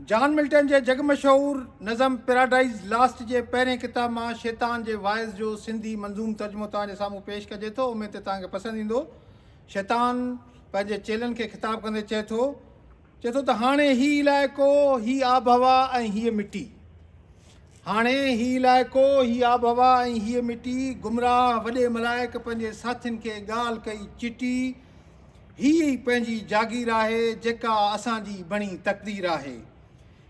جان Milton جي جڳ مشهور نظم پيراڊائيز لاسٽ جي پهرين ڪتاب مان شيطان جي واعظ جو سنڌي منظوم ترجمو توهان جي سامهون پيش ڪجي ٿو اميد ته توهان کي پسند ايندو شيطان پنهنجي چيلن کي خطاب ڪندي چئي ٿو چئي ٿو ته هاڻي هي علائقو هي آبهوا ۽ هيء مٽي هاڻي هي علائقو هي آبهوا ۽ هيء مٽي گمراهه وڏي ملائڪ پنهنجي ساٿين کي ڳالهه ڪئي چٽي هي ئي پنهنجي جاگير آهي، جيڪا اسان جي بڻي تقدير آهي.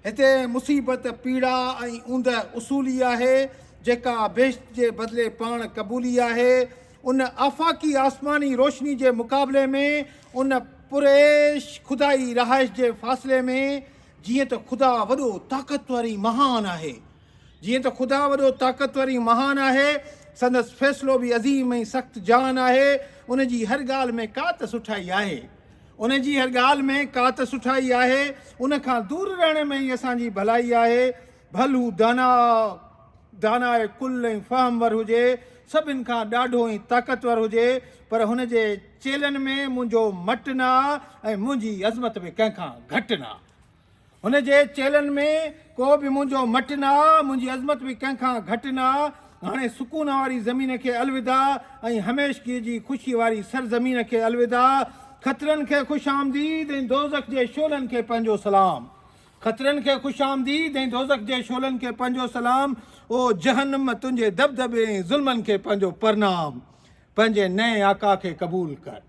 هتي مصيبت پيڙا ۽ اوندهه اصولي آهي، جيڪا بهشت جي بدلي پاڻ قبولي آهي. ان آفاقي آسماني روشني جي مقابلي ۾ ان پرعيش خدائي رهائش جي فاصلي ۾، جيئن ته خدا وڏو، طاقتور ۽ مهان آهي، جيئن ته خدا وڏو طاقتور ۽ مهان آهي، سندس فيصلو به عظيم ۽ سخت جان آهي، ان جي هر ڳالهه ۾ ڪا ته سٺائي آهي. ان جي هر ڳالهه ۾ ڪا ته سٺائي آهي، ان کان دور رهڻ ۾ ئي اسان جي ڀلائي آهي، ڀل هو دانا، داناء ڪل ۽ فهمور هجي، سڀن کان ڏاڍو ۽ طاقتور هجي، پر هن جي چيلهن ۾ منهنجو مٽ نه آ ۽ منهنجي عظمت به ڪنهن کان گهٽ نه آ. هن جي چيلهن ۾ ڪو به منهنجو مٽ نه آ، منهنجي عظمت به ڪنهن کان گهٽ نه آ. هاڻي سڪون واري زمين کي الوداع ۽ هميشگيء جي خوشيء واري سرزمين کي الوداع. خطرن کي خوش آمديد ۽ دوزخ جي شعلن کي پنهنجو سلام. خطرن کي خوش آمديد ۽ دوزخ جي شعلن کي پنهنجو سلام. او جهنم! تنهنجي دٻدٻي ۽ ظلمن کي پنهنجو پرنام. پنهنجي نئين آقا کي قبول ڪر.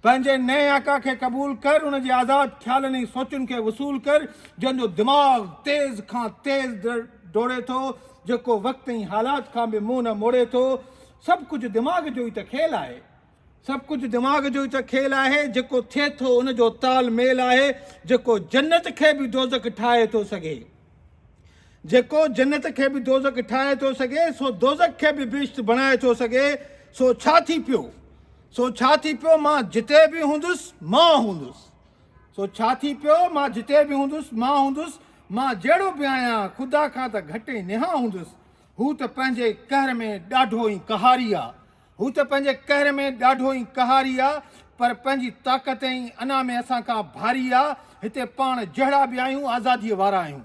پنهنجي نئين آقا کي قبول ڪر، ان جي آزاد خيالن ۽ سوچن کي وصول ڪر، جنهن جو دماغ تيز کان تيز ڊوڙي ٿو، جيڪو وقت ۽ حالات کان به منهن نه موڙي ٿو. سڀ ڪجهه دماغ جو ئي ته کيل آهي. سڀ ڪجهه دماغ جو ئي ته کيل آهي. جيڪو ٿئي ٿو، ان جو تال ميل آهي. جيڪو جنت کي به دوزخ ٺاهي ٿو سگهي. جيڪو جنت کي به دوزخ ٺاهي ٿو سگهي، سو دوزخ کي به بهشت بڻائي ٿو سگهي. سو ڇا ٿي پيو؟ سو ڇا ٿي پيو مان جتي به هوندس مان هوندس سو ڇا ٿي پيو مان جتي به هوندس مان هوندس مان جهڙو به آهيان خدا کان ته گهٽ ۽ نهان هوندس هو ته پنهنجي قهر ۾ ڏاڍو ئي قهاري آ هو ته پنهنجي قهر ۾ ڏاڍو ئي قهاري آ پر پنهنجي طاقت ۽ انا ۾ اسان کان ڀاري آ هتي پاڻ جهڙا به آهيون آزاديء وارا آهيون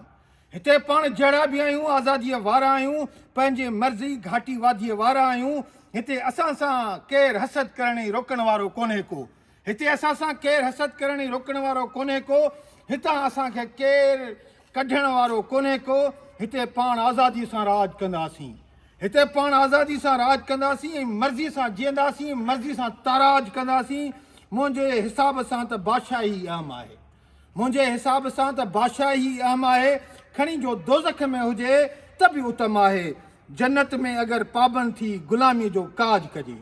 هتي پاڻ جهڙا به آهيون آزاديء وارا آهيون، پنهنجي مرضي گهاٽي واديء وارا آهيون، هتي اسان سان ڪير حسد ڪرڻ ۽ روڪڻ وارو ڪونهي ڪو، هتي اسان سان ڪير حسد ڪرڻ ۽ روڪڻ وارو ڪونهي ڪو، هتان اسان کي ڪير ڪڍڻ وارو ڪونهي ڪو، هتي پاڻ آزاديء سان راڄ ڪنداسين، هتي پاڻ آزاديء سان راڄ ڪنداسين ۽ مرضي سان جيئنداسين، مرضي سان تاراج ڪنداسين، منهنجي حساب سان ته بادشاهي ئي اهم آهي. منهنجي حساب سان ته بادشاهي ئي اهم آهي، کڻي جو دوزخ ۾ هجي ته به اتم آهي. جنت ۾ اگر پابند ٿي غلاميء جو ڪاڄ ڪجي.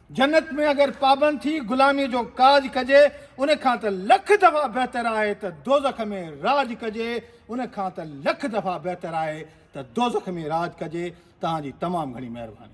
جنت ۾ اگر پابند ٿي غلاميء جو ڪاڄ ڪجي، ان کان ته لک دفعا بهتر آهي ته دوزخ ۾ راڄ ڪجي، ان کان ته لک دفعا بهتر آهي ته دوزخ ۾ راڄ ڪجي. توهان جي تمام گهڻي مهرباني.